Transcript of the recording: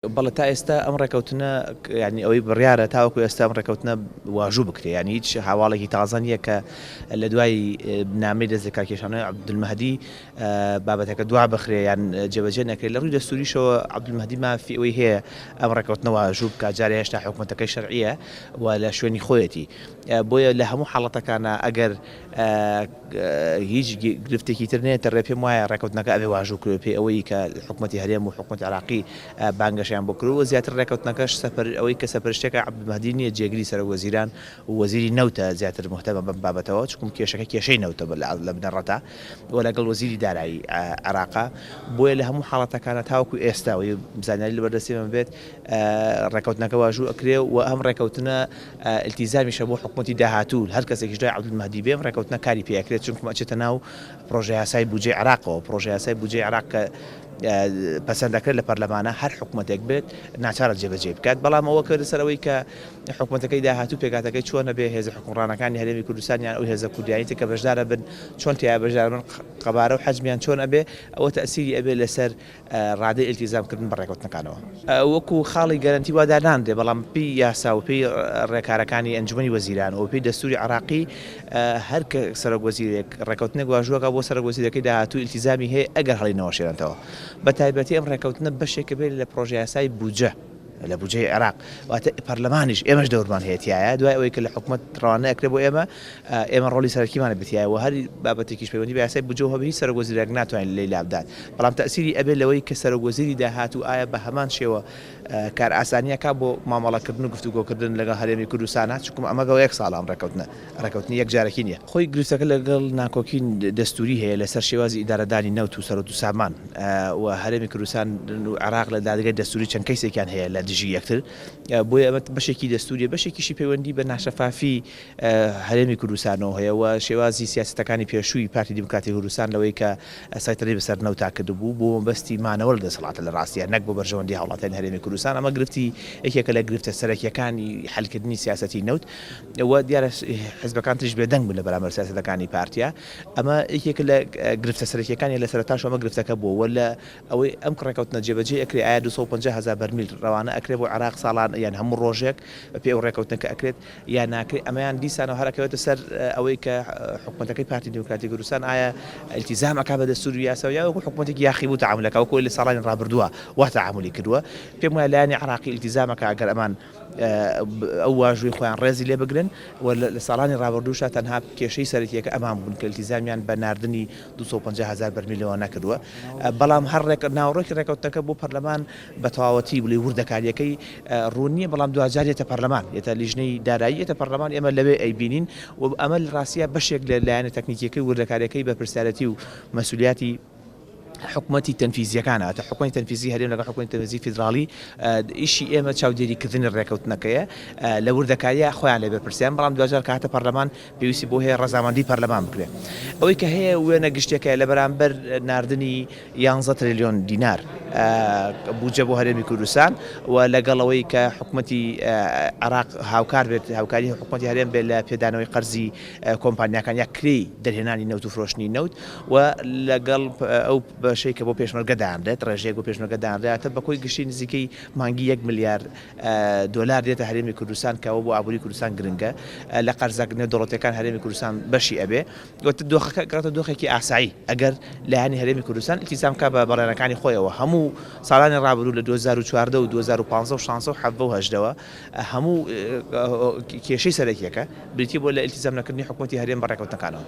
بەڵێ تا ئێستا ئەم ڕێکەوتنە یانی ئەوەی بڕیارە تاوەکو ئێستا ئەم ڕێکەوتنە واژوو بکرێ یانی هیچ هاواڵێکی تازە نییە کە لە دوای نامی دەست لە کارکێشانەوەی عبدمەدی بابەتەکە دوا بخرێ یان جێبەجێ نەکرێت لە ڕووی دەستوریشەوە عبدمەدی مافی ئەوەی هەیە ئەم ڕێکەوتنە واژوو بکە جارێ هێشتا حکوومەتەکەی شەرعە و لە شوێنی خۆیەتی بۆیە لە هەموو حاڵەتەکانە ئەگەر هیچ گرفتێکی تر نەیەتە ڕێ، پێم وایە ڕێکەوتنەکە ئەبێ واژوو کرێ پێ ئەوەی کە حکومەتی هەرێم و حکومەتی عێراقی بانگەشەیان بۆ کردووە، زیاتر ڕێکەوتنەکەش سەپەر ئەوەی کە سەپەرشتیەکە عەبدول مەهدی نییە جێگری سەرۆک وەزیران و وەزیری نەوتە زیاتر موهتەمە بەم بابەتەوە چکوم کێشەکە کێشەی نەوتە لە بنەڕەتا و لەگەڵ وەزیری دارایی عێراقە بۆیە لە هەموو حاڵەتەکانە تاوەکو ئێستا و زانیاری لەبەردەستی من بێت ڕێکەوتنەکە واژوو ئەکرێ و ئەم ڕێکەوتنە ئیلتیزامیشە بۆ حکومەتی داهاتوو، هەر کەسێکیش دوای عەبدولمەهدی بێ ئەم ڕێکەوتنە کاری پێ ئەکرێت، چونکوم ئەچێتە ناو پڕۆژەیاسای بودجەی عێراقەوە، پڕۆژەیاسای بودجەی عێراق کە پەسەند ئەکرێت لە پەرلەمانا هەر حکومەتێک بێت ناچارە جێبەجێی بکات، بەڵام ئەوە کە لەسەر ئەوەی کە حکومەتەکەی داهاتوو پێکهاتەکەی چۆنە بێ هێزە حکومڕانەکانی هەرێمی کوردستان یان ئەو هێزە کوردیانەی تر کە بەشدارەبن چۆن تیایا بەشداربن، قەبارە و حەجمیان چۆن ئەبێ، ئەوە تەئسیری ئەبێ لەسەر ڕادەی ئیلتیزام کردن بە ڕێکەوتنەکانەوە وەکو خاڵی گەرەنتی وا دانانرێت، بەڵام بە پێی یاسا و پێی ڕێکارەکانی ئەنجومەنی وەزیران و بە پێی دەستوری عێراقی هەر سەرۆک وەزیرێک ڕێکەوتنێک واژۆکات بۆ سەرۆک وەزیرەکەی داهاتوو ئیلتیزامی هەیە ئەگەر هەڵی نەوەشێنێتەوە، بە تایبەتی ئەم ڕێکەوتنە بەشێکە بێت لە پرۆژە یاسای بودجە. لە بودجەی عێراق واتە پەرلەمانیش ئێمەش دەورمان هەیە تایە دوای ئەوەی کە لە حکوومەت ڕوانە ئەکرێ بۆ ئێمە ئێمە ڕۆلی سەرکیمان بتیایە و هەر بابەتێکیش پەیوەندی بە یاسای بجۆ هەبی سەرگۆزیرەک ناتوانین لی لابدات بەڵام تەسیری ئەبێ لەوەی کە سەرگۆزیری داهات و ئایا بە هەمان شێوە کار ئاسانیەکە بۆ مامەڵەکردن و گفتوگۆکردن لەگە هەرێمی کوردستانە چکم ئەمەگەەوە یەک ساڵان ڕێکەوتنە ڕێکەوتنی یەک جارەکی نییە. خۆی گرفتەکە لەگەڵ ناکۆکی دەستووری هەیە لەسەر شێوازی ئیدارەدانی نەوت و سەروەت و سامان و هەرێمی کوردستان و عێراق لە دادگای دەستووری چەند کەیسێکیان هەیە لە دژی یەکتر بۆیە ئەمە بەشێکی دەستووریە بەشێکیشی پەیوەندی بە ناشەفافی هەرێمی کوردستانەوە هەیە و شێوازی سیاسەتەکانی پێشووی پارتی دیموکراتی کوردستان لەوەی کە سەیتەرەی بەسەر نەوتا کردبوو بۆ مەبەستی مانەوە لە دەسەڵاتە لە ڕاستیا نەک بۆ بەرژەوەندی هاوڵاتیانی هەرێمی کوردستان ئەمە گرفتی یەکێکە لە گرفتە سەرەکییەکانی حەلکردنی سیاسەتی نەوت و دیارە حزبەکان تریش بێ دەنگ بوون لە بەرامبەر سیاسەتەکانی پارتیا ئەمە یەکێکە لە گرفتە سەرەکیەکانی لە سەرەتاش ئەمە گرفتەکە بووە وە لە ئەوەی ئەم کڕێکەوتنە جێبەجێ ئەکرێ ئایا دوو سەد و پەنجا هەزار بەرمیل ڕەوانە ئەکرێ بۆ عێراق ساڵان یان هەموو ڕۆژێک بە پێی ئەو ڕێکەوتنە کە ئەکرێت یان ناکرێ ئەمەیان دیسانەوە هەر ئەکەوێتە سەر ئەوەی کە حکومەتەکەی پارتی دیموکراتی کوردستان ئایا التیزام ئەکا بە دەستور و یاسا یا وەکو حکومەتێکی یاخی بوو تەعامولەکە وەکو لە ساڵانی ڕابردووە وا تەعامولی کردووە پێم وایە لایەنی عێراقی التیزامەکە ئەگەر ئەمان ئەو واژووی خۆیان ڕێزی لێ بگرن و لە ساڵانی ڕابردووشا تەنها کێشەی سەرەکیەکە ئەمان بوون کە التیزامیان بە ناردنی دوو سەد و پەنجا هەزار بەرمیلەوە نەکردووە بەڵام هەر ڕێک ناوەڕۆکی ڕێکەوتنەکە بۆ پەرلەمان بە تەواوەتی بڵێ وردەکاریەکەی ڕوون نییە بەڵام دواجار یەتە پەرلەمان یەتە لیژنەی دارایی یەتە پەرلەمان ئێمە لەوێ ئەیبینین و ئەمە ڕاستە بەشێک لە لایەنە تەکنیکیەکەی وردەکاریەکەی بەرپرسیارەتی و مەسولیاتی حکومەتی تەنفیزییەکان هاتووە، حکومەتی تەنفیزیی هەرێم لەگەڵ حکومەتی تەنفیزیی فیدراڵی، ئیشی ئێمە چاودێریکردنی ڕێککەوتنەکەیە، لە وردەکارییە خۆیان لێ بەرپرسیارن، بەڵام دواجار کە هاتە پەرلەمان پێویستی بەوە هەیە ڕەزامەندیی پەرلەمان بکرێت. ئەوەی کە هەیە وێنە گشتییەکەیە لە بەرامبەر ناردنی یانزە ترێلیۆن دینار بودجە بۆ هەرێمی کوردستان و لەگەڵ ئەوەی کە حکومەتی عێراق هاوکار بێت، هاوکاریی حکومەتی هەرێم بێت لە پێدانەوەی قەرزی کۆمپانیاکان یا کرێی دەرهێنانی نەوت و فرۆشتنی نەوت و لەگەڵ ئەو بەشەی کە بۆ پێشمەرگە دانرێت ڕێژەیەک بۆ پێشمەرگە دانرێتە بە کۆی گشتی نزیکەی مانگی یەک ملیار دۆلار دێتە هەرێمی کوردستان کەەوە بۆ ئابووری کوردستان گرنگە لە قەرزەک نێ دەوڵەتەکان هەرێمی کوردستان بەشی ئەبێ وتە دۆخەکە گەڕتە دۆخێکی ئاسایی ئەگەر لایانی هەرێمی کوردستان ئیتیزام کا بە بەڕێنەکانی خۆیەوە هەموو ساڵانی ڕابروو لە 2014 و 2015 و 16 و 1970ەوە هەموو کێشەی سەرەکیەکە بریتیبووە لە ئیلتیزام نەکردنی حکومەتی هەرێم بە ڕێکەوتنەکانەوە.